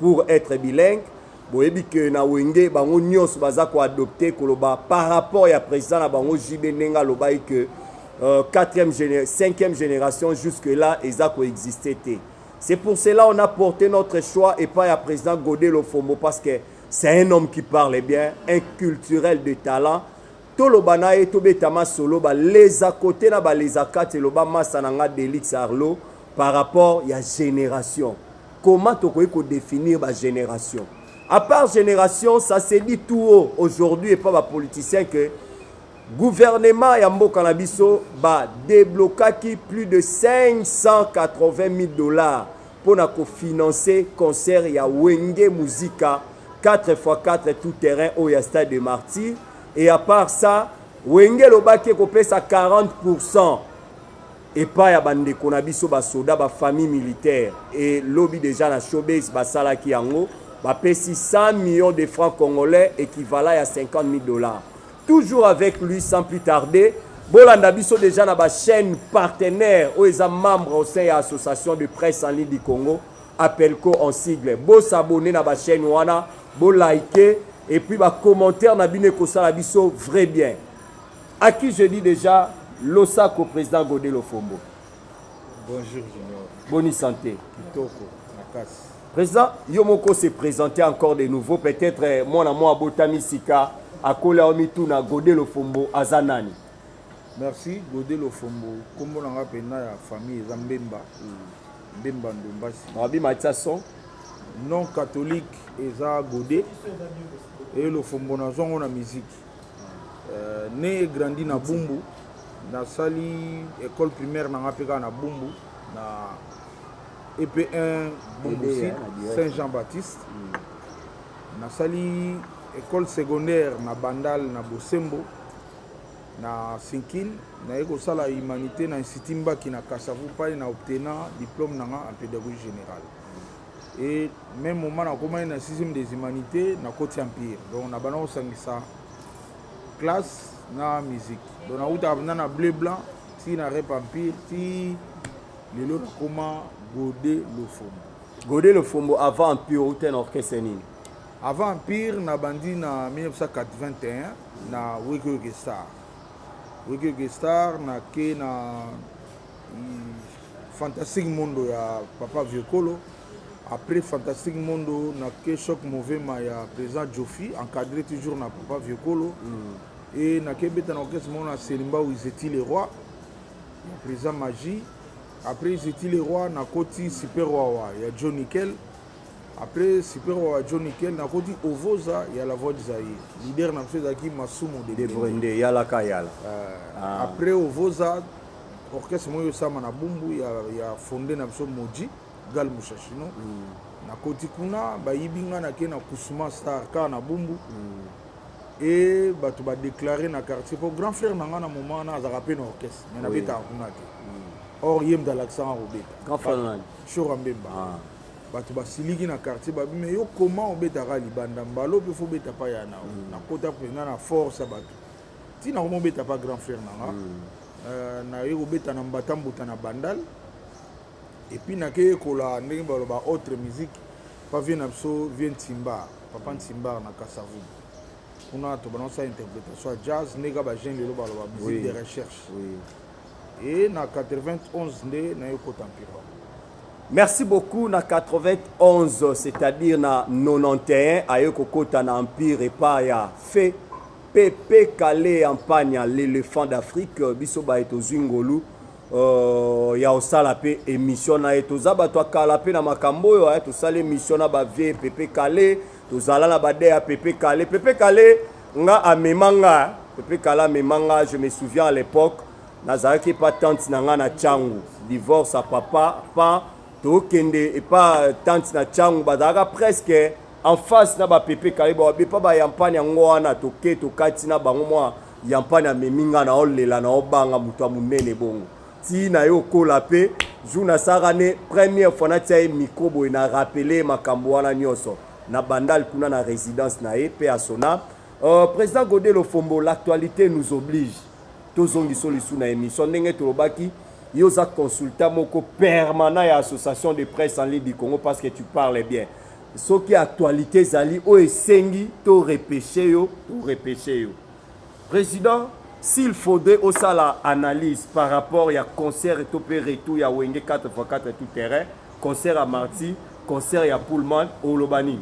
Pour etre bilingue boyebi que na wenge bango nyonso baza ko adopter koloba par rapport ya president na bango JB ndenge alobaki que euh, 4e géné 5e génération jusque là eza ko exister te. C'est pour cela on a porté notre choix et pas ya président Godel Ofombo parce que c'est un homme qui parle bien, un culturel de talent. toloba na ye tobetama solo baleza kote na baleza kati eloba masa na nga delix arlo par rapport ya génération Comment tokoki ko definir ba generation? A part generation, ça se dit tout haut aujourd'hui et pas ba politiciens que gouvernement ya mboka na biso ba deblokaki plus de 580 000 dollars pour na ko financer concert ya Wenge Musica 4x4 tout terrain au ya stade de Martyrs et à part ça Wenge lobaki ko pesa 40% epai ya bandeko na biso basoda bafamille militaire elobi deja na showbase basalaki yango bapesi 100 millions de francs congolais équivalent ya 50 000 dollars toujours avec lui sans plus tarder bolanda biso deja na bachaîne partenaire oyo eza membre au sein ya association de presse en ligne du congo appelco en sigle bosabone na bachaîne wana bolike epuis bacommentaire na bino ekosala biso vrai bien A qui je dis dejà losako president Gode Lofombo. Bonjour Junior. Boni santé. Kitoko makasi. Président, yo moko se présenter encore de nouveau peut-être eh, mwana mwa abotami sika akola omi tuna Gode Lofombo aza nani? merci gode lofombo nkombo na ngai mpenza ya famille eza mbemba mbemba ndombasi mabi matisa son non catholique eza gode e lofombo nazwango na miziki euh, ne grandi na bumbu nasali école primaire nanga mpe kaka na bumbu na ep1 bumbusi saint jean baptiste mm. nasali école secondaire na bandal na bosembo na sinkil naye kosala humanité na institut mbaki na kasavu pai na obtena diplôme nanga en pédagogie générale et même moment nakomaki na sixième des humanités nakoti empire donc na banda kosangisa classe na musique donc nautaka mpenza na bleu blanc ti na rep empire ti lelo nakoma gode lofombo gode lofombo avant empire outa na orchestre nini avant empire nabandi na 1981 na wekoyoke star wekoyoke star nake na fantastique mondo ya papa vieux kolo après fantastique mondo na ke choc movema ya président jofi encadré toujours na papa vieux kolo mm. e nakebeta na orchestre moko na selimba oyo izeti le roi ya président magie après izeti le roi nakoti super wawa ya john nickel après super wawa john nickel nakoti ovoza ya la voix zaye leader na biso ezalaki masumu de brende yalaka yala uh, ah. après ovoza orchestre moko esalama na bumbu ya, ya fonde na biso moji gal mushashino mm. nakoti kuna bayibi ngai nake na kusuma star kaka na bumbu mm. e bato badeklare na quartier mpo grand frère na ngai na moment wana azalaka mpe na orchestre mai nabetaka kuna te mm. or ye mda alakisanga kobeta shora mbemba ah. bato basiliki na quartier babi mai yo koma obetaka libanda mbalo mpe fo obeta pa ya nao mm. nakota mpenza na force ya bato ntina komo beta pa grand frère na nga mm. euh, naye kobeta na mbata mbuta na bandal epuis nakeyekola ndenge baloba autre musique pa vie na biso vie ntimbar papa ntimbar na kasavu kuna tobanda kosala interprétation ya jazz ndenge kaka bajeune lelo baloba musique de recherche e na 91 nde naye kota mpirwa merci beaucoup na 91 c'est-à-dire na 91 aye kokota na empire epa ya fait Pepe Kale ya Mpanya, l'elephant d'Afrique, euh, biso baye tozwi ngolu uh, ya osala mpe émission na ye. Toza bato ya kala mpe na makambo oyo eh, tosali émission na bavie Pepe Kale, tozala na bade ya Pepe Kale. Pepe Kale nga amema nga, eh. Pepe Kale amema nga, je me souviens à l'époque, nazalaki epa tante na nga na Changu, divorce ya papa, pa tokende epa tante na Changu, bazalaka presque en face na ba pepe kale ba bepa ba yampani yango wana toke tokati na bango mwa yampani amemi nga na olela na obanga moto ya monene bongo ti na ye okola mpe jour nasalaka ne première fois natia ye micro boye na rappele makambo wana nyonso na bandal kuna na résidence na ye mpe asona euh, président gode lofombo l'actualité nous oblige tozongiso lisu na émission ndenge tolobaki yo oza consultant moko permanent ya association de presse en ligne du congo parce que tu parles bien soki actualité ezali oyo esengi to repeshe yo to repeshe yo président s'il faudrait osala analyse par rapport ya concert to mpe retour ya wenge 4x4 tout terrain concert ya marti concert ya pullman oloba nini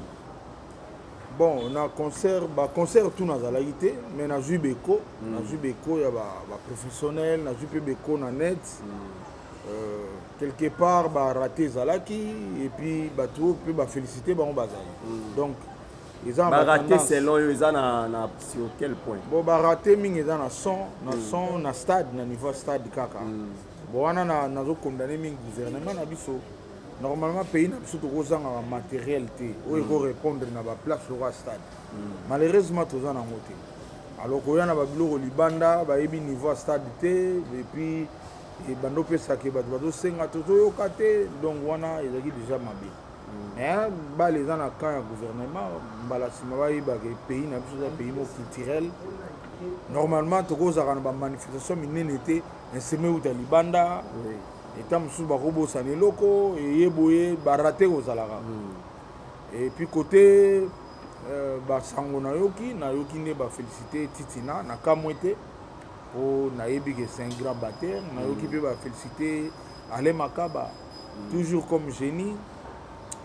bon na concert baconcert tout nazalaki te mais nazwi beko mm. nazwi beko ya baprofessionnel ba nazwi mpe beko na net mm. Euh, quelque part barate ezalaki epuis bato mpe bafélicité bango bazali mm. donc eza barate selon yo eza na, na sur quel point bon barate mingi eza na son na mm. son na stade na niveau ya stade kaka mm. bon wana nazokondane mingi gouvernement na biso normalement pays na biso tokozangaka matériel te oyo mm. ekorépondre na baplace lokola stade mm. malheureusement toza nango te alors koya na babiloko libanda bayebi niveau ya stade te epuis ebanda opesa ke bato bazosenga tozoyoka te donc wana ezalaki déjà mabe mm. mais bale eza na camp ya gouvernement mbala nsima bayeba ke pays na biso eza pays mo culturel normalement tokozalaka na bamanifestation minene te nseme euta libanda eta mosusu bakobosana eloko eye boye barate kozalaka mm. epuis kote euh, basango nayoki nayoki nde bafélicité titina na kamwe te po nayebi que c'est un grand batteur nayoki mpe ba félicité Alain Makaba toujours comme génie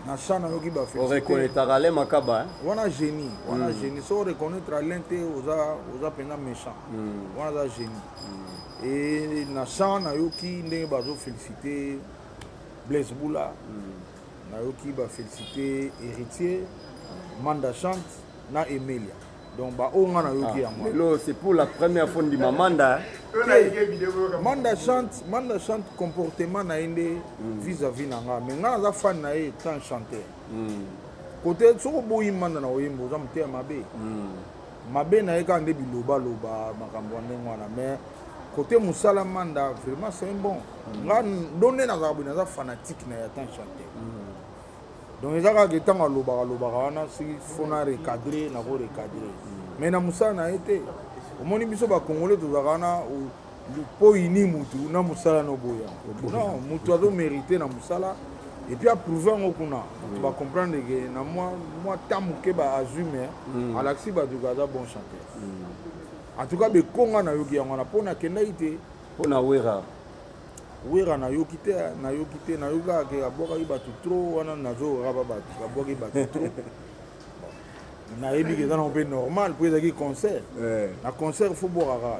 na chant nayoki ba félicité oreconnaîtaka Alain Makaba hein? wana génie wana mm. génie so oreconnaître Alain te oza oza mpenza méchant mm. wana aza génie mm. et na chant nayoki ndenge bazo félicité Blaise Boula mm. nayoki ba félicité héritier Manda chante na Emelia donc baoyo nga nayoki yango ah, lelo c'est pour la première fois ndima manda manda chante manda chante comportement na ye nde hmm. vis à vis na nga mais nga naza fan na ye tant chanteur kote hmm. soki oboyi manda na oyemba oza moteya mabe hmm. mabe na ye kaka nde bilobaloba makambo ya ndenge wana mais kote mosala manda vraiment c'est bon nga ndo nde nazalaka boye naza fanatique na ye ata chanteur donc eza kaka ntango alobaka alobaka wana soki fo na recadre nako recadre mai na mosala na ye te omoni biso bacongolais tozalaka wana mpo oyini motu na mosala na oboya non motu azomérite na mosala epuis aprouve yango kuna bato bacomprendre ke na mwa ta moke baazwi mai mm. alakisi bato ke aza bon chanteur mm. en tout cas bekonga nayoki yango wana mpo nakendaki te mpo na wera Wera nayoki te nayoki te nayoki kaka ke abwakaki bato trop wana nazoraba bato abwaki bato trop nayebi ke eza nango mpe normal mpo ezalaki concert eh. na concert fo bwakaka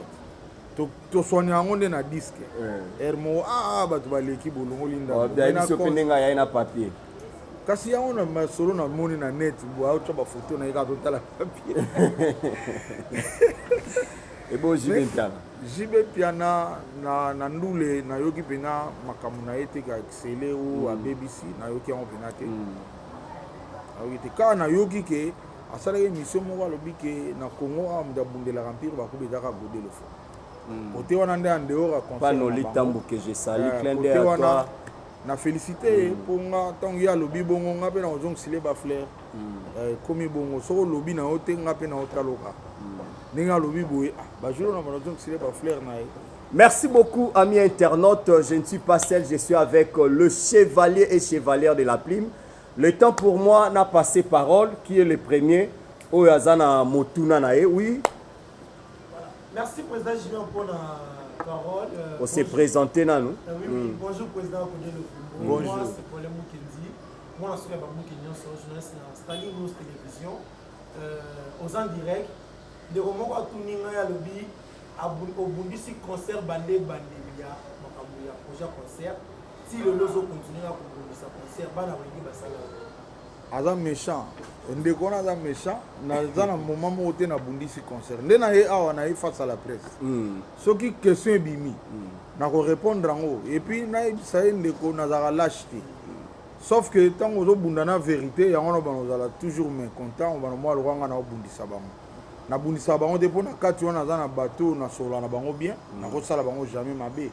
toswani yango nde na diske eh. heure moko aa ah, ah, bato baleki bolongoli ndandenge na papier kasi yango na masolo namoni na net aotya bafoto na ye kaka totala papier ebo jibentana JB Piana na, na ndule nayoki mpena makambo na ye te ka excele o mm. abebisi nayoki yango mpena te mm. nayoki te kaka nayoki ke asalaki émission moko alobi ke na congo awa moto abundelaka mpire bakobetaka godelo fo mm. kote wana nde andehor ya concert na félicité ye mpo nga ntango ye alobi bongo nga mpe nakozongisile bafleur euh, ekomi bongo soki olobi na yo te nga mpe na yo taloka ndenge alobi boye ah, bajolo na bana zongisile bafleur na ye Merci beaucoup, amis internautes. Je ne suis pas seul, je suis avec euh, le chevalier et chevalière de la plume. Le temps pour moi n'a passé parole, qui est le premier. Oyazana Motuna Nae, oui. Voilà. Merci, Président Julien, pour la parole. Euh, On s'est présenté, Nanou. Euh, oui, oui. Mm. Bonjour, Président Bonjour. Moi, c'est Paul Moukendi. mwana soki ya babuki nyonso journaliste na stali news télévision euh, oza direct ndeko moko atuni ngai alobi obundisi concert bande ebandeli ya makambo ya projet concert ti lelo ozokontinue na kobundisa concert bana balingi basala aza méchant ndeko wana aza méchant naza na moment moko te nabundisi concert nde na ye awa na ye face à la presse hmm. soki question ebimi nakorépondre yango epuis nayebisa ye ndeko nazalaka lâche te sauf que ntango ozobunda na vérité yango wana obana ozala toujours mécontent obana mwa lokwa ngai naobundisa bango nabundisaka bango te mpo na kati wana aza na bato oyo nasolola na bango bien mm. nakosala bango jamais mabe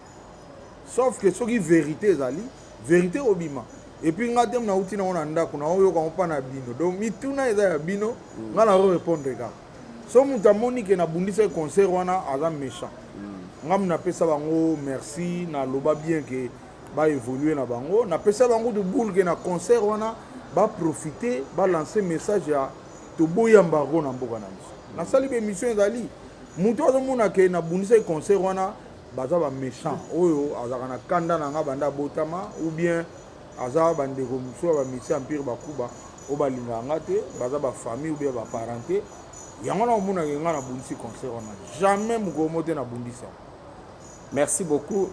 sauf que soki vérité ezali vérité obima epuis ngai te nauti nango na ndako naoyoka yango mpa na bino donc mituna eza ya bino mm. ngai naorépondre kaka so moto amoni ke nabundisaki concert wana aza méchant mm. ngai napesa bango merci naloba bien ke baévolue na bango napesa bango de boule ke na concert wana baprofite balance message ya toboyi embargo na mboka na biso nasali baémission ezali moto azomona ke nabundisaki concert wana baza baméchant oyo azalaka na kanda na ngai banda abotama ou bien aza bandeko mosusu ya bamisi empire bakuba oyo balingaka nga te baza bafamille oubien baparente yango wana omonaka nga nabundisi concert wana jamais mokolo mo te nabundisa merci beaucoup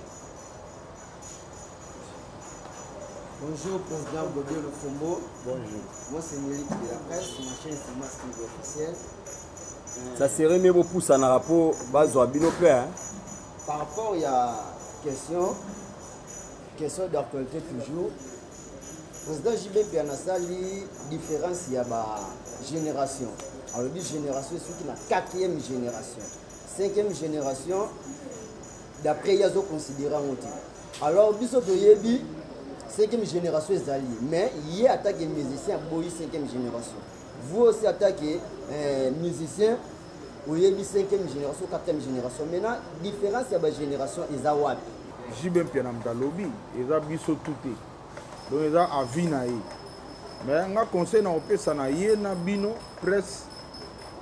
Bonjour Président Godio Lofombo. Bonjour. Moi c'est Milik de la presse, ma chaîne c'est Mask officiel. Euh, Ça serait mieux pour ça na rapport bazo abino pe hein. Par rapport ya question Question d'actualité toujours. Président JB Mpiana asali différence ya ba génération. Alobi génération esuki na quatrième génération. Cinquième génération d'après ye azoconsidere yango te. Alors biso toyebi cinquième génération ezali mais ye atake musicien aboyi cinquième génération. Vous aussi atake eh, musicien oyebi 5e génération 4e génération maintenant différence ya bagénération eza wapi jibe mpia na moto alobi eza biso tu te donc eza avis na ye mais nga conseil na kopesa na ye na bino presse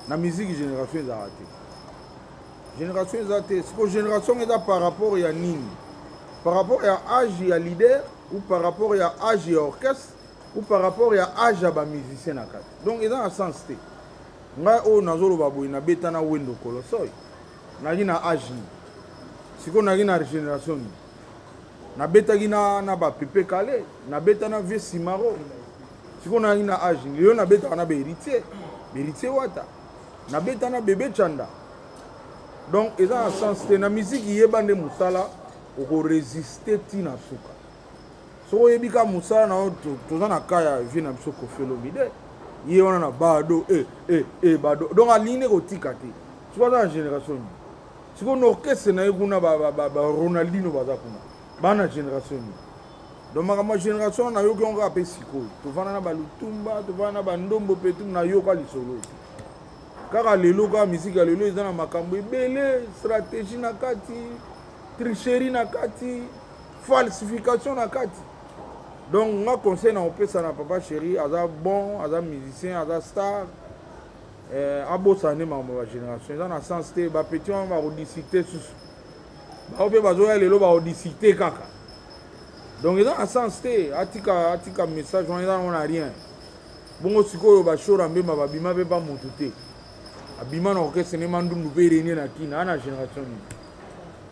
na musique génération ezalaka te génération eza te siko génération eza par rapport ya nini par rapport ya âge ya leader ou par rapport ya âge ya orchestre ou par rapport ya âge ya bamusicien na kati donc eza na sens te ngai oyo nazoloba boye nabeta na wendo kolosoy naki na age nini sikoyo naki na régénération nini nabetaki na, na bapepe kale nabeta na vieux simaro sikoyo naki na age nini lelo nabetaka na baheritier baheritier wata nabeta na bebe chanda donc eza na sens te na miziki yeba nde mosala okoresiste ntina suka soki oyebi ka mosala na yo toza na ka ya vie na biso kofi olomide ye wana na bado e e e bado donc alingi nde kotika te soki aza na génération nini sikoyo na orchestre na ye kuna baronaldino baza kuna baa na génération nini donc makambo ya génération wana nayoki yango kaka mpe sikoyo tovanda na balutumba tovanda na bandombo mpe tu nayoka lisolo te kaka lelo kaka miziki ya lelo eza na makambo ebele stratégie na kati tricherie na kati falsification na kati donc nga conseil na kopesa na papa chéri aza bon aza musicien aza star eh, abosana nde makambo ya bagénération eza na sens te bapetit wana bakodisite susu bango mpe bazoya lelo bakodisite kaka donc eza na sens te atika atika message wana eza nango na rien bongo sikoyo bashora mbemba babima mpe bamotu te abima na orchestre ne mandundu mpe renie na kina ana génération nini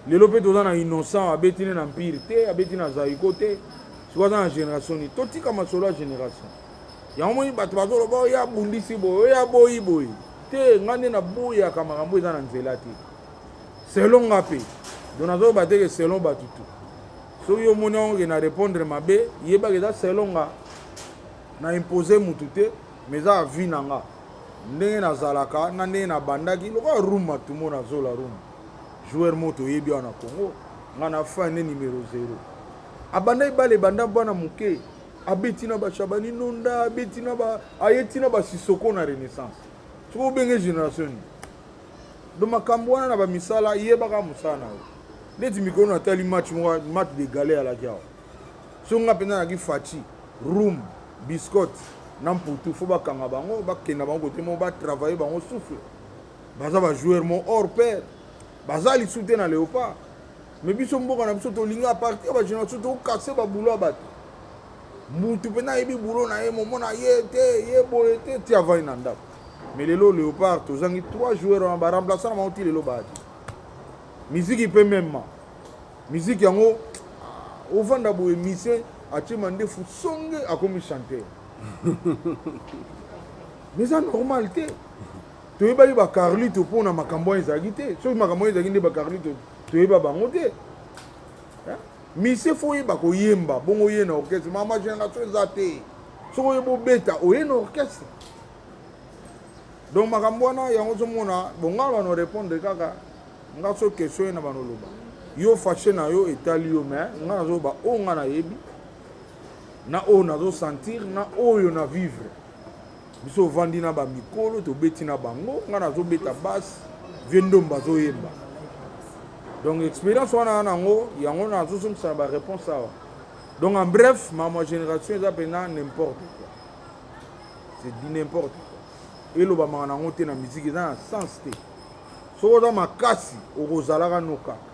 lelo mpe toza na innocent abeti ne na mpire te abeti na zaiko te sikoy aza na génération nini totika masolo ya génération yango moni bato bazoloba oyo oh, abundisi boye oyo oh, aboyi boye te ngai nde naboyaka makambo eza na nzela te selon nga mpe do nazoloba teke selon bato tu soki yo omoni yango ke na répondre mabe yebaka eza selon nga na impose motu te mais eza avi na nga ndenge nazalaka na ndenge nabandaki lokola room matumo na zola room joueur moto oyebi awa na congo ngai na fin nde numero 0 abandaki bale banda bana moke abeti na bashabani nonda abeti na ba aye ti na basisoko na renaissance soki obenge génération nini do makambo wana na bamisala yebaka mosala na yo neti mikolo natali match moko match de gale alaki awa soki nga mpenza naki faci roum biscotte na mputu fo bakanga bango bakenda bango kote moko batravaille bango souffle baza bajoueur mo hors paire baza lisu te na léopard mais biso mboka na biso tolingi apartir bagénération tokase babulo ya bato mutu mpenza ayebi bulo na ye momona ye te ye boye te ti avai na ndako mais lelo léopard tozangi trois joueur wana baremplaçant na bango ti lelo baati miziki mpe mema Musique yango ah, ovanda boye mise atie mandefu songe akomi chanteur. Mais ça normal te. toyebaki bacarlito mpo na makambo wana ezalaki te soki makambo wana ezalaki nde bacarlito toyeba bango te eh? mise fo oyeba koyemba bongo oye na orchestre mama génération eza te soki oye bobeta oye na orchestre donc makambo wana yango ozomona bongala no répondre kaka nga so question ye na bano loba yo fache na yo etali yo mais nga nazoba oyo nga nayebi na oyo nazosentir na oyo na vivre biso ovandi na bamikolo tobeti na bango nga nazobeta base vie ndomba azoyemba donc expérience wana na yango yango nazozongisa na baréponse awa donc en bref mama génération eza mpenza n'importe quoi c'est du n'importe quoi elobamaka na yango te na miziki eza na sens te soki oza makasi okozalaka no kaka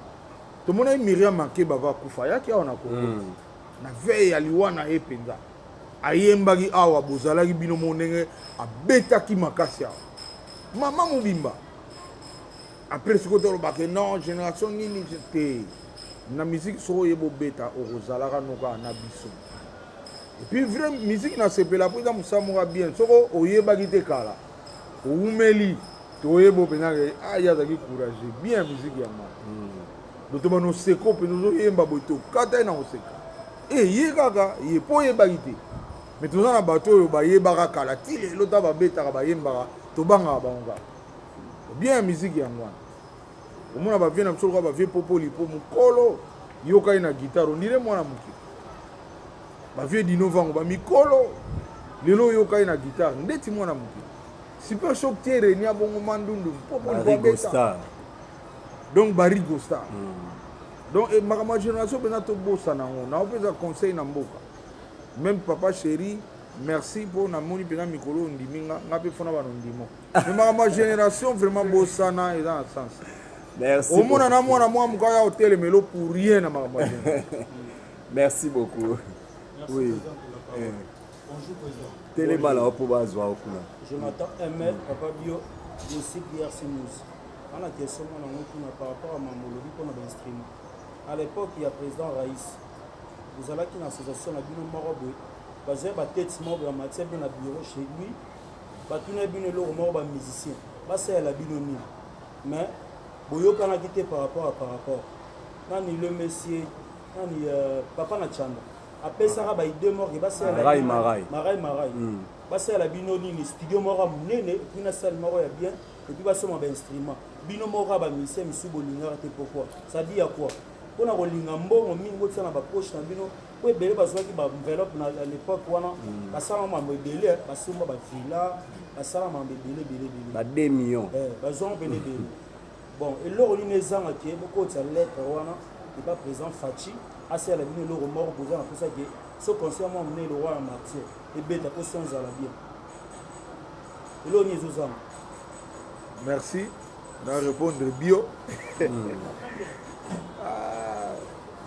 tomonaki miriam makeba va kufa ayaki awa na kongo mm. na veye ya liwa na ye mpenza ayembaki awa bozalaki bino mo ndenge abetaki makasi awa mama mobimba apres soki otolobake non génération nini te na miziki soki oye bobeta okozalaka noka na biso epuis vrai miziki nasepela mpo eza mosala moka bien soko oyebaki te kala owumeli toyebo mpenza ke ah, ye azalaki courage bien miziki yango boto bana oseko mpenza ozoyemba boye tokata ye na koseka e eh, ye kaka ye mpo oyebaki te me toza na bato oyo bayebaka kala ti lelo ta babetaka bayembaka tobangaka bango kaka bien miziki yango wana omona ba vieux na biso lokola ba vieux popo lipo mukolo yoka ye na guitare ondire mwana moke ba vieux dino vango ba mikolo lelo yoka ye na guitare ndeti mwana moke super shock te renia bongo mandundu popo lipo abeta donc barigo star mm. donc eh, makambo ya génération mpenza tobosana yango nao mpenza conseil na mboka meme papa chéri merci mpo namoni mpenza mikolo oyo ondimi nga nga mpe fona bana ondimo mais makambo ya génération vraiment bosana eza na sens merci omona na mwana mwa moka ya otelemelo pour rien na makambo ya merci beaucoup merci oui eh. bonjour président telema lao mpo bazwa okuna jonathan ml papa bio dosi pierre simus ana question mwana ngo kuna par rapport ya mambo olobi mpo na bainstrument à l'époque ya président rais bozalaki na association na bino moko boye bazali batete moko ya matière mpe na bureau chez lui batuna bino eloko moko ba musicien basalela bino nini mais boyokanaki te par rapport ya par rapport nani le monsieur nani euh, papa na chanda apesaka baide morke basalelamarai marai hmm. basalela bino nini studio moko ya monene epuis na sale moko ya bien epuis basoma bainstrument bino moko ya bamisien misusu bolingaka te pourkoi sadi ya kua mpo na kolinga mbongo mingi botia na bapoche na bino po ebele bazwaki ba enveloppe na l'époque wana mm. basala mambo ebele basomba ba villa basala mambo ebele ebele ebele ba 2 millions eh bazwanga pene ebele bon eloko nini ezanga ke bokotisa lettre wana epa président faci asala bino eloko moko boza na mposa ke so conseil mwa monene eloko wana martyr ebeta mpo so ezala bien eloko nini ezozanga merci na repondre bio hmm. ah,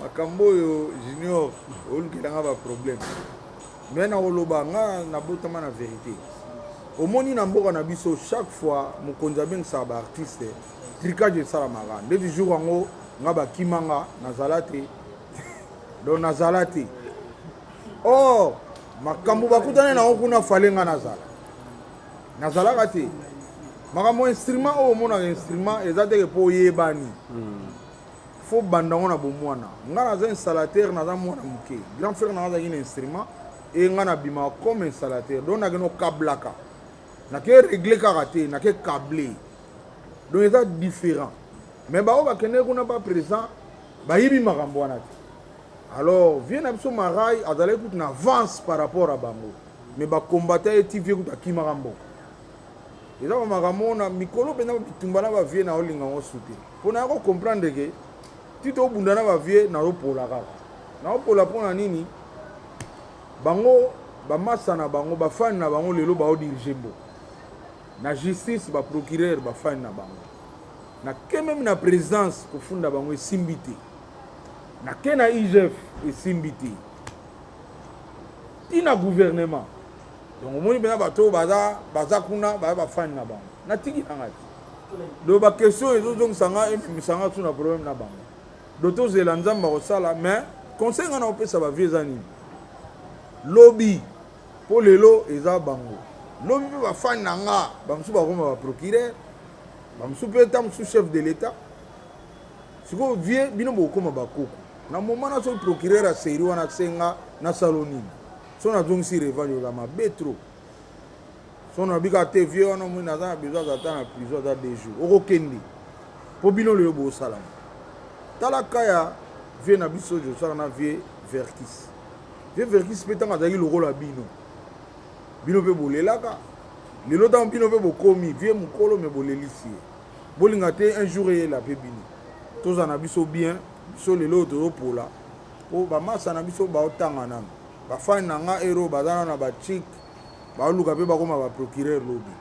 makambo oyo junior olukela nga baproblème me na koloba nga nabotama na verité omoni na mboka na biso chaque fois mokonzi abengisaka baartiste tricage esalamaka nde toujours yango nga bakima nga nazala te donc nazala te or makambo bakutani na yango kuna fale nga nazala nazalaka te makambo instrument oyo omonaka instrument eza teke mpo oyebani hmm. fo banda yango na bomwana ngai naza installateur naza mwana moke grand frère nanga azalaki na instrument eye ngai nabimaka comme installateur donc nakende okablaka nake regle kaka te nake cable donc eza différent mais baoyo bakendeki kuna ba présent bayibi makambo wana te alors vie na biso marai azalaki kutu na avance par rapport ya bango mais ba combattant ye ti vie kutu akimaka mboka eza ba makambo ona mikolo mpenza bitumba na ba vie na olinga yango su te mpo na yako comprendre ke ti tobunda na ba vie na opola kaka na opola mpo na nini bango bamasa na bango bafani na bango lelo baodirige mboka na justice baprocureur bafani na bango nake meme na présidence kofunda bango esimbi te nake na igf esimbi te ti na gouvernement donc omoni mpena bato oyo baza baza kuna baza bafani na bango natiki na ngai do baquestion ezozongisa ngai ememisa ngai tu na problème na bango do tozela nzambe akosala mais conseil ngai nakopesa bavie eza nini lobi mpo lelo eza bango lobi mpe bafani na nga bamosusu bakoma baprocureur bamosusu mpe ta mosusu chef de l'état sikoyo vie bino bokokoma bakoko na moment na soki procureur ya serie wana asenga nasalo nini so nazongisi revange oza mabe trop so nabika te vieux wana omoni naza na besoin aza ta na prison aza deux jours okokende mpo bino lelo bosalama tala ka ya vieux na biso josaka na vieux verkis vieux verkis mpe ntango azalaki lokola bino bino mpe bolelaka lelo ntango bino mpe bokomi vie mokolo me bolelisi ye bolinga te un jour eyela mpe bino tozala na biso bien biso lelo oyo tozopola mpo bamasa na biso baotanga nano bafani na nga ero baza nano na bachike baoluka mpe bakoma baprocureur lobi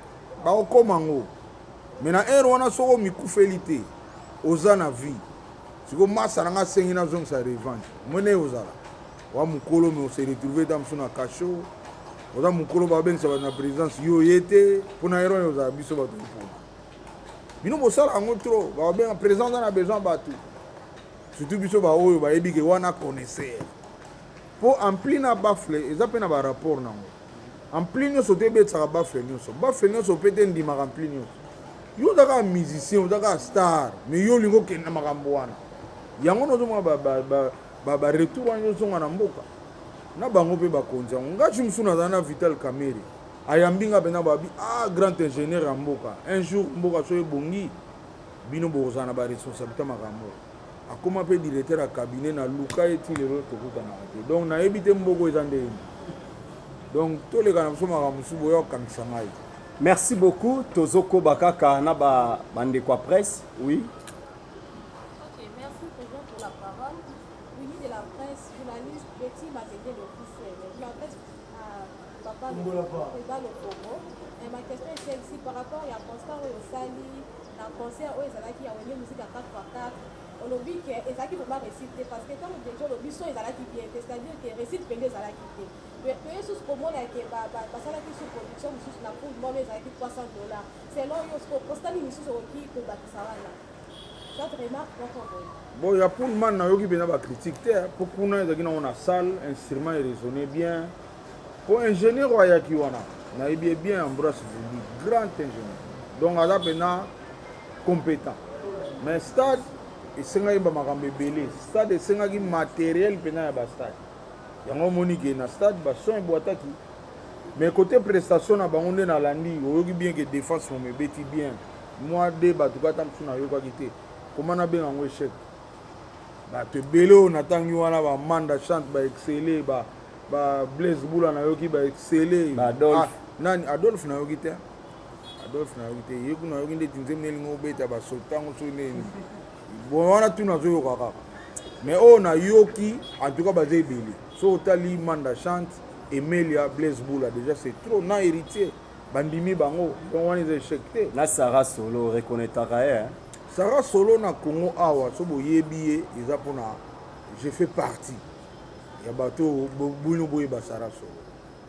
bakokoma yango me na ero wana soko omikufeli te oza na vie siko masa na nga asengi nazongisa revanche mwene ozala wa mokolo me ose retrouve ta mosusu na cachot oza mokolo babengisa bato na présidence yo ye te mpo na ero ozala biso bato mpona bino bosala yango trop bakobenga président aza na besoin bato surtout biso baoyo bayebi ke wana connaisseur mpo ampli na bafle eza mpe na barapport nango ampli nyonso te ebetisaka bafle nyonso bafle nyonso mpe te endimaka ampli nyonso yo oza kaka musicien oza kaka star mais yo olingi okende na makambo wana yango nazomona baretour wana nyonso nga na mboka na bango mpe bakonzi yango ngaci mosusu nazala na vital camere ayambi nga pena babi ah grand ingénieur ya mboka un jour mboka so ebongi bino bokozala na baresponsabilité makambo akoma mpe directeur ya cabinet na luka ye ti lelo tokutanaka te donc nayebi te mboko eza nde yini donc toleka na biso makambo mosusu boya kokangisa ngai merci beaucoup tozokoba kaka na bandeko ya presse oui Fungola pa. ebalo kongo Eh, ma question est celle-ci par rapport ya constat oyo osali na concert oyo ezalaki ya wenge musique ya 4x4 olobi ke ezalaki vraiment réussite te parce que ntango deja olobi so ezalaki bien te c'est-à-dire ke réussite mpenza ezalaki te Pe- toye susu komona ke ba- ba- basalaki su production mosusu na poule mono ezalaki 300 dollars selon yo siko constat nini mosusu okoki kobakisa wana soit remarque moko boye bon ya poolman nayoki mpenza bacritique te mpo kuna ezalaki nango na salle instrument erésonne bien Po ingenieur oyo ayaki wana nayebi ye bien Ambroise Vumbi grand ingenieur donc aza pena competent mais stade esengaki ba makambo ebele stade esengaki materiel pena ya ba stade yango omoni ke na stade ba son ebwataki mais côté prestation na bango nde nalandi oyoki bien ke défense momo ebeti bien mwa de bato kata mosusu nayokaki te koma nabenga yango echec bato ebele oyo natangi wana bamanda chante baexcele ba, ba blaise bula nayoki baexcele ba adolphe. Ah, nani adolphe nayoki te adolphe nayoki te ye kuna nayoki ndeti nzembo elingi obeta basoto ntango soki nini bon wana tuna azoyoka kaka mais oyo oh, nayoki en tout cas baza ebele soki otali manda chante emelia blaise bula déjà c'est trop na héritier bandimi bango donc wana eza échec te na sara solo reconnaîtraka ye Sarah solo na Congo awa so boyebi ye eza pona je fais partie ya bato bino boyeba Sarah solo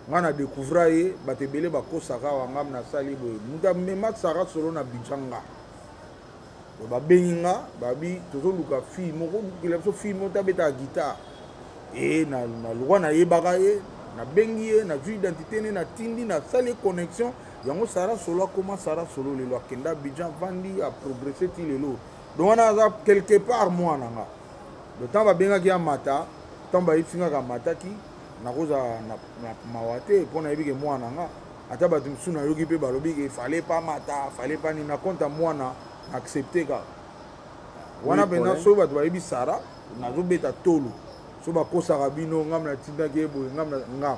ngai na découvra ye bato ebele bakosaka awa ngam nasali boye moto amema Sarah solo na bidja nga babengi nga babi tozoluka fille moko lukela biso fille moko tabetaka guitare e na, na lwa nayebaka ye nabengi ye nazwi identité ne natindi nasali connexion yango sara solo akoma sara solo lelo akenda abidjan avandi aprogresse ti lelo donc wana aza quelque part mwana na nga le temps babengaki ya mata ntango bayebisi nga kamataki nakozala na mawa te mpo nayebi ke mwana na nga ata bato mosusu nayoki mpe balobi ke fale pa mata fale pa nini na konta mwana na accepte kaka wana mpenza soki bato bayebi sara nazobeta tolo so bakosaka bino ngambe natindaki ye boye ngambe nga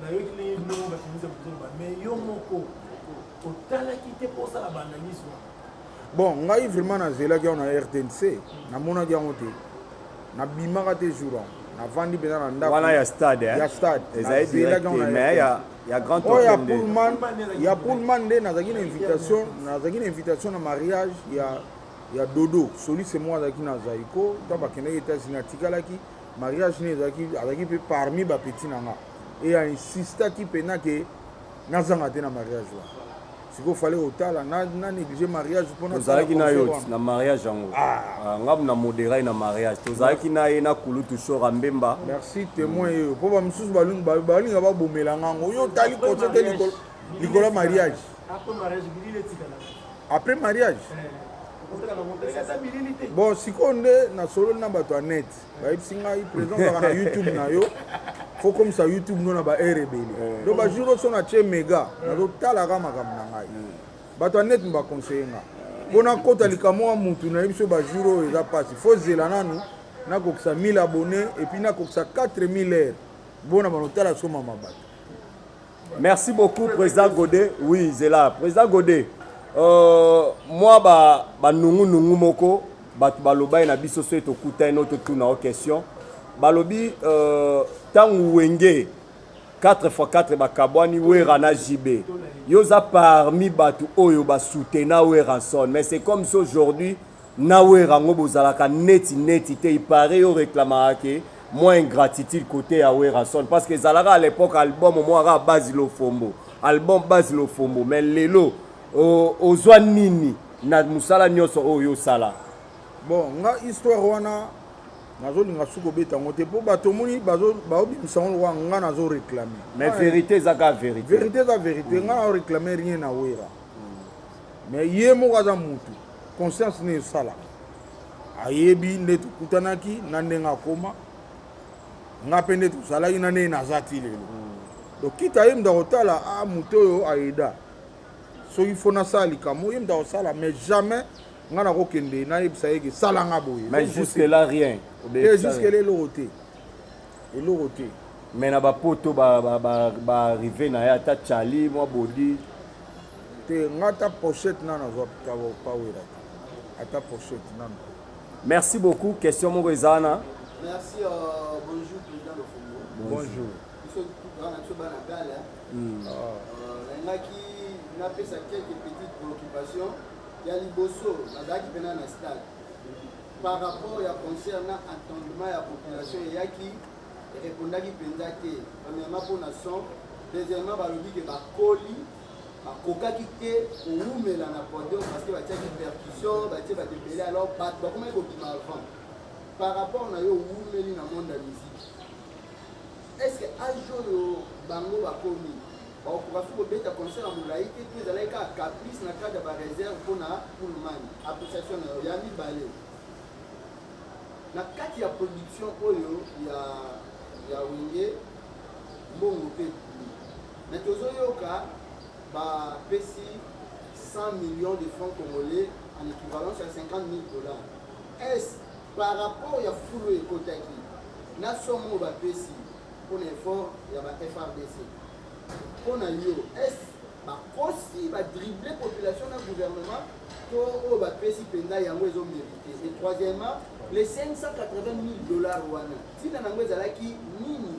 nayoki ndenge bino moko bato mizela kozoloba mais yo moko otalaki te mpo osala baanalyse wana bon ngai vraiment nazelaki yango na rtnc namonaki yango te nabimaka te jour yango navandi mpenza na ndako wana ya stade ya stade ezali direct mais ya ya grand oyo ya pullman ya pullman nde nazalaki na invitation nazalaki na invitation na mariage ya ya dodo soliste moko azalaki na zaiko ntango bakendaki etats-unis atikalaki mariage ne ezalaki azalaki mpe parmi bapetit na nga e insistaki mpena ke nazanga te na mariage wana sikoyo fale otala na néglige mariage mponatozalaki na yo na mariage yango ah. ah, ngabu na moderai na mariage tozalaki na ye na kulutu shora mbemba merci témoin yeyo mpo bamosusu balinga babomela ngango yo otali koso te likolo ya mariage après mariage eh. bon sikoyo nde nasololi na bato ya net bayebisi ngai président ozalaka na youtube na yo fo komisa youtube no na baheure ebele eh. donc bajour oso na tie mega nazotalaka makambo na ngai hmm. bato ya net baconseille nga mpo nakota likambo ya motu nayebi so bajour oyo eza mpasi fo zela nanu nakokisa 1000 abonné epuis nakokisa 4000 heure bona banotala soma mabato Merci beaucoup président Godet. Oui, zela président Godet. Euh, moi ba ba nungu nungu moko bato balobai na biso soki tokutani no totuna o question balobi ntango euh, wenge 4 x 4 bakabwani wera na jb yo oza parmi bato oyo basutena weranson mais c'est comme si aujourd'hui euh, Na werra ngo bozalaka neti neti te il parait yo reclamaka ke mwa ingratitude cote ya werrason parce que ezalaka à l'epoque album mwa kaka base lofombo album base lofombo mais lelo ozwa nini na musala nionso oyo osala bon nga histoire wana nazolinga suki obeta yango te mpo bato omoni baobimisa yango lokola nga nazo réclame mais vérité eza kaka vérité vérité eza vérité nga nao réclame rien na wera mais ye moko aza mutu conscience nini esala ayebi nde tokutanaki na ndenge akoma nga mpe nde tozalaki na ndenge naza ti lelo hmm. donc kita ye mutu akotala a ah, moto oyo ayeda soki fo nasala likambo ye mutu akosala mais jamais nga nakokende nayebisa ye ke sala nga boye mais jusque là rien te jusque là eloko te eloko te mais na bapoto baarrive na ye ata chali mwa bodi te nga ata pochette nanu azwa pawera te ata pochette nanu merci beaucoup question moko eza wana merci euh, bonjour président lofongo bonjour biso wana biso bana gala hmm. ah. euh, nalingaki napesa quelques petites préoccupations ya liboso nazalaki mpena na stade par rapport ya concert na attendement ya population eyaki erepondaki mpenza te premièrement mpo na son deuxièmement balobi ke bakoli bakokaki te kowumela na podium parce que batiaki percussion batie bato ebele alors bato bakomaki kobima avant par rapport na yo owumeli na monde ya musique est ce que age oyo bango bakomi bakokoka fi kobeta concert ya molai te to ezalaki kaka caprice na cadre ya bareserve mpo na pullmane appréciation na yo ya mibale na kati ya production oyo ya ya wenge mbongo mpe Mais tozo yoka ba pesi 100 millions de francs congolais en équivalence à 50 000 dollars. Est-ce par rapport ya foule ekotaki na somme oyo ba pesi pour l'effort ya ba FRDC? Pour na yo, est-ce ba kosi ba dribbler population na gouvernement to oyo ba pesi penza yango ezo mériter? Et troisièmement, les 580 000 dollars wana, tina nango ezalaki nini?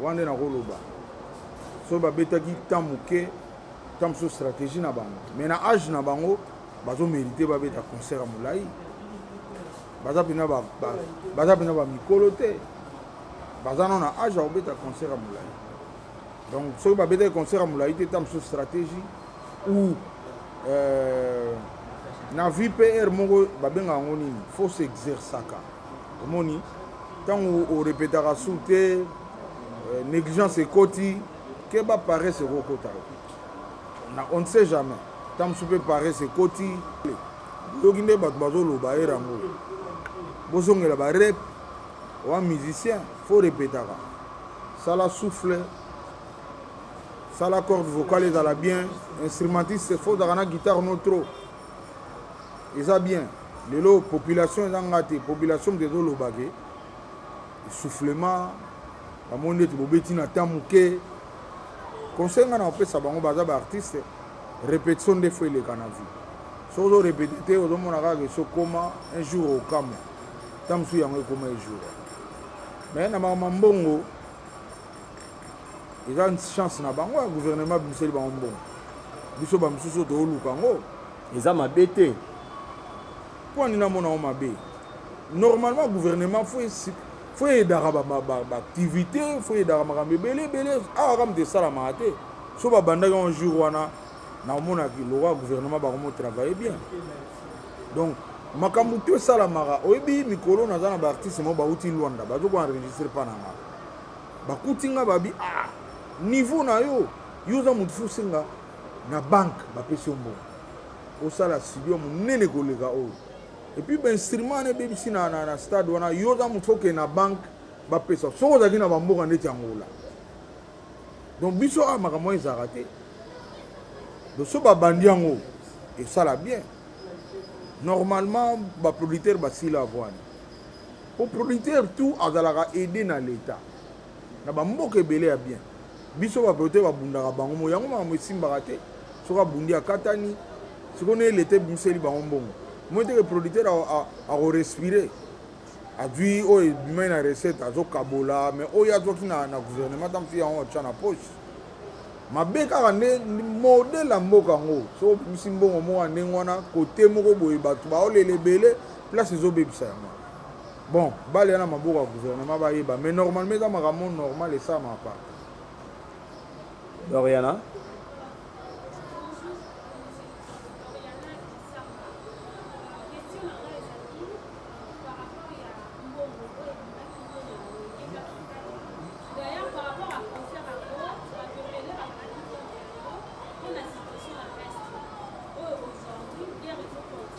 wana nde nakoloba soki babetaki temps moke temps mosusu stratégie na bango mais na age na bango bazomérite babeta concert ya molai baza mpena baza mpena bamikolo te baza no na age ya kobeta concert ya molai donc soki babetaki concert ya molai te temps mosusu stratégie ou euh, na vpr moko babengaka yango nini fo s'exercaka omoni ntango orepetaka su te euh, négligence ekoti keba parese ekokota on ne sait jamais ntango mosusu mpe parese ekoti yoki nde bato bazoloba ye yango bozongela barep oa musicien fo repetaka sala souffle sala corde vocale ezala bien instrumentiste fo ozalaka na guitare no trop eza bien lelo population eza nga te population moto ezoloba ke soufflement bamoni ndeti bobeti na temps moke conseil ngai na kopesa bango baza baartiste répétition nde fo eleka na vie soki ozo répéte te ozomona kaka ke sokoma un jour okamwa ntango mosusu yango ekoma ejour mais na makambo mbongo eza chance na bango ya gouvernement bimiseli bango mbongo biso bamosusu oyo tooluka yango eza mabe te mpo ani namona yango mabe normalement gouvernement fo fo eyedaka baactivité ba, ba fo eyedaka makambo ebele ebele awa ah, kaka moto esalamaka te so babandaki yango jour wana naomonaki lokola gouvernement bakomo travaille bien donc makambo to esalamaka oyebi mikolo naza na baartiste moko bauti lwanda bazokoenregistre mpa na ngai bakuti nga babi ah niveau na yo yo oza motu fosenga na banke bapesi yo mbongo osala studio monene koleka oyo epuis bainstrument wana ebebisi na, na, na stade wana yo oza motu okende na banke bapesa soki ozalaki na bamboka ndeti yangola donc biso awa ah, makambo wana ezalaka te donc so babandi yango esala bien normalement baproducteur basila avwani po producteur tout azalaka aide na l'etat na bamboka ebele ya bien biso baproducteur babundaka bango mo yango makambo esimbaka te soki abundi akatani sikoyo nde leta ebimiseli bango mbongo moi teke producteur akorespire azwi oyo ebimai na recette azokabola mais oyo azwaki na, na gouvernement ntango mosusu yango atya na poche mabe kaka nde modele ya mboka yango soki obimisi mbongo moko ya ndenge wana kote moko boye bato baolela ebele place ezobebisa yango bon bale yana maboko ya gouvernement bayeba mais normalement eza makambo normal esalama pa doriana Thank you.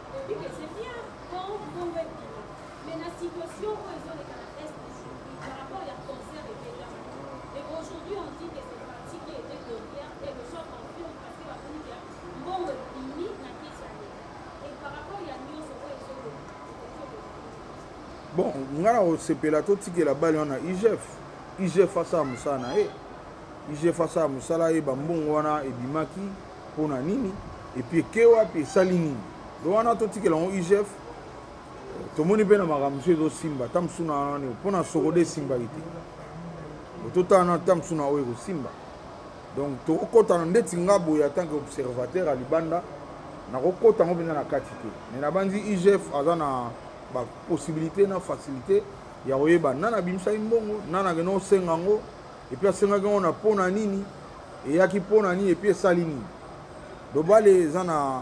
bon ngai na kosepela totikela bale wana igf igf asala mosala na ye igf asala mosala ye bambongo wana ebimaki mpo na nini epuis eke wapi esali nini do wana totikela yango igf euh, tomoni mpe na makambo mosusu ezosimba ata mosusu na wana mpo na sokode esimbaki te ototala na ata mosusu na oyo ekosimba donc tokokɔta na ndeti nga boye en tant que observateur ya libanda nakokɔta yango mpenza na kati te mais nabanzi igf aza na bapossibilité na facilité ya koyeba nani abimisaki mbongo nani akende osenga yango epuis asengaki yango na mpo na nini eyaki mpo na nini epuis esali nini dobale eza na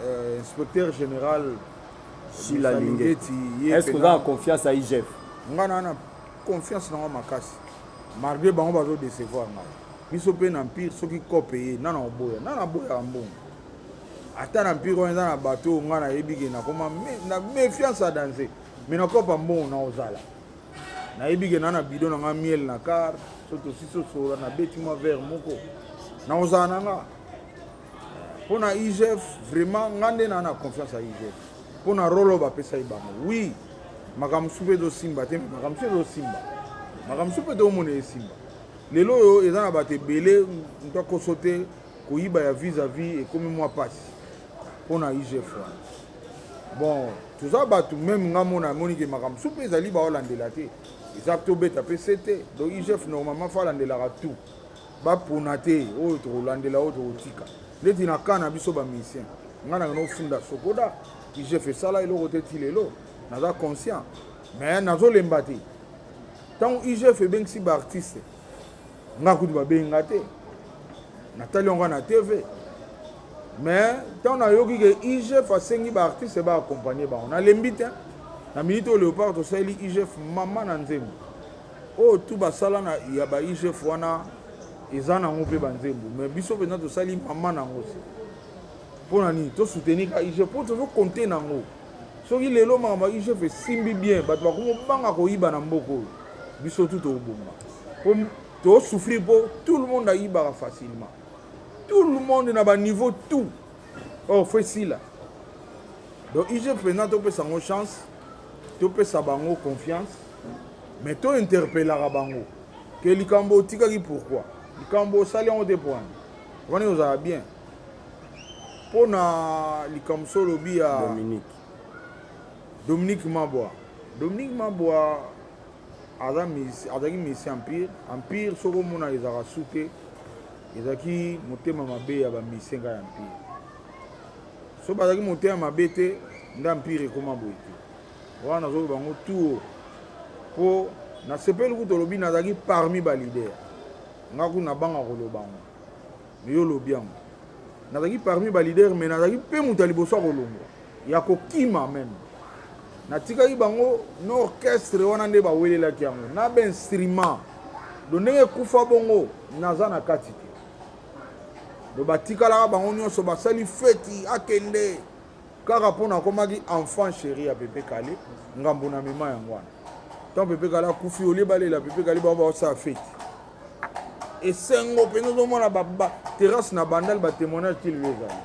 euh, inspecteur général sila lingeti est ce que oza na confiance ya igf ngai naa na confiance nango makasi malgré bango bazodecevoir ngai biso mpe na mpire soki cope ye nana oboya nana aboyaka mbongo ata na mpire wana eza na bato oyo ngai nayebi ke nakoma na méfiance ya danger mais nakopa mbongo naozala nayebi ke na na bido na nga miel na car so tosi sosola nabeti mwa vere moko nakozala na nga mpo na igf vraiment nga nde naa na confiance ya igf mpo na rolo bapesaki bango wi makambo mosusu mpe ezosimba te makambo mosusu ezosimba makambo mosusu mpe toomona esimba lelo oyo eza na bato ebele nto akoso te koyiba ya vis a vis ekomi mwa mpasi pona igf wana bon toza bato meme nga mona amoni ke makambo supe ezali baolandela te eza tobeta mpe se te donc igf normalement fa alandelaka tout bapona te oyo tokolandela oyo tokotika ndeti na kaa na biso bamisien ngai nanga nofunda sokoda igf esala eloko te ti lelo naza conscient mais nazolemba te ntango igf ebengisi baartiste nga kutu babengi nga te natali yango na tv mais ntango nayoki ke igf asengi baartiste baakompagne bango nalembi te na minute oyo léopard tosaleli igf mama na nzembo oyo oh, tu basala na ya ba igf wana eza nango mpe banzembo mais biso mpenza tosali mama na yango se mpo na nini tosoutenir ka igf mpo tozokonte na yango soki lelo makambo ya igf esimbi bien bato bakomi obanga koyiba na mboka oyo biso tu tobomba po tosouffrir mpo tout le monde ayibaka facilement tout le monde na baniveau tout or oh, fo esila donc igf mpenza topesa yango chance topesa bango confiance mais tointerpelaka bango ke likambo otikaki pourquoi likambo osali yango te mpo wana wana ozala bien mpo na likambo so olobi ya dominique dominique mabwa dominique mabwa azalaki misi empire empire soki omona ezalaka su te ezalaki motema mabe ya bamisenga ya empire so bazalaki motema mabe te nde empire ekoma boye te wana nazoloba yango tuo mpo nasepeli kutu olobi nazalaki parmi balider nga kuna nabanga koloba yango mais yo olobi yango nazalaki parmi balider mais nazalaki mpe moto ya liboso ya kolongwa ya kokima meme natikaki bango na orchestre wana nde bawelelaki yango na bainstrument do ndenge ekufa bongo naza na kati te do batikalaka bango nyonso basali feti akende kaka mpo nakomaki enfant chéri ya pepe kale ngambo na mema yango wana ntango pepe kale akufi olie balela pepe kale bango baosala feti esengo mpenza ozomona terrasse na bandal batémoignage ti lelo ezali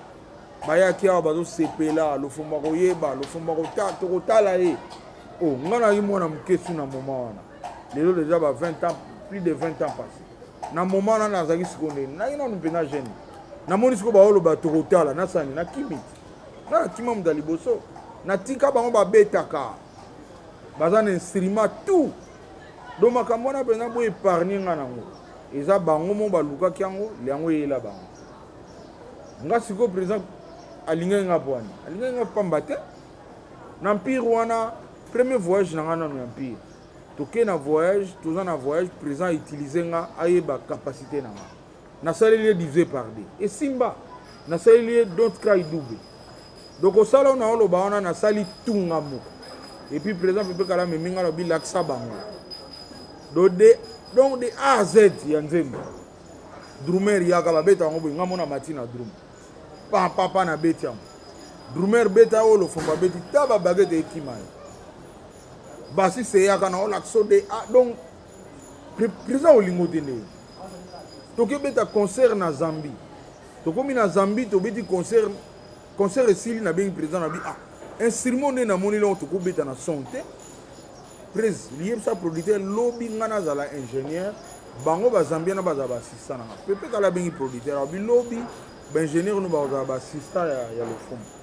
bayaki awa bazosepela lofombo akoyeba lofombo tokotala ye o oh, ngai nayaki mwana moke su na moma wana lelo deja ba 20 ans plus de 20 ans passé na moma wana nazalaki sikoyo ndeni nayaki nanu mpenza jeune namoni sikoyo baoloba tokotala nasani nakimi nga nakima moto ya liboso natika bango babetaka baza na instrument tout donc makambo wana mpenza bo épargne nga nango eza bango mo balukaki yango yango eyela bango nga sikoyo président alingaki nga po wana alingaki nga pamba te na mpire wana premier voyage na nga nano ya mpire tokei na voyage toza na voyage président utilise nga ayeba capacité na nga nasaleli ye divisé par deux esimba nasaleli ye don't cry double donc osala ona oloba wana nasali tunga moko epuis président pepe kala amemi ngai lobi lakisa bango do de donc de a z ya nzembo drumer yaka babeta yango boye ngai mona mati na drum papapa na beti yango drumer beta oyo lofombo abeti ta babagete ekima ye basiste eyaka na olakisa de a donc Président olingo te nde. Toke beta concert na Zambie. Tokomi na Zambie tobeti concert concert esili na bengi président na bi ah instrument nde namoni longo tokobeta na son te prise liyebisa producteur lobi ngai nazala ingénieur bango bazambia na bazala baasista na ngai pepe kala abengi producteur abi lobi baingénieur no bakozala baasista ya, ya lofumu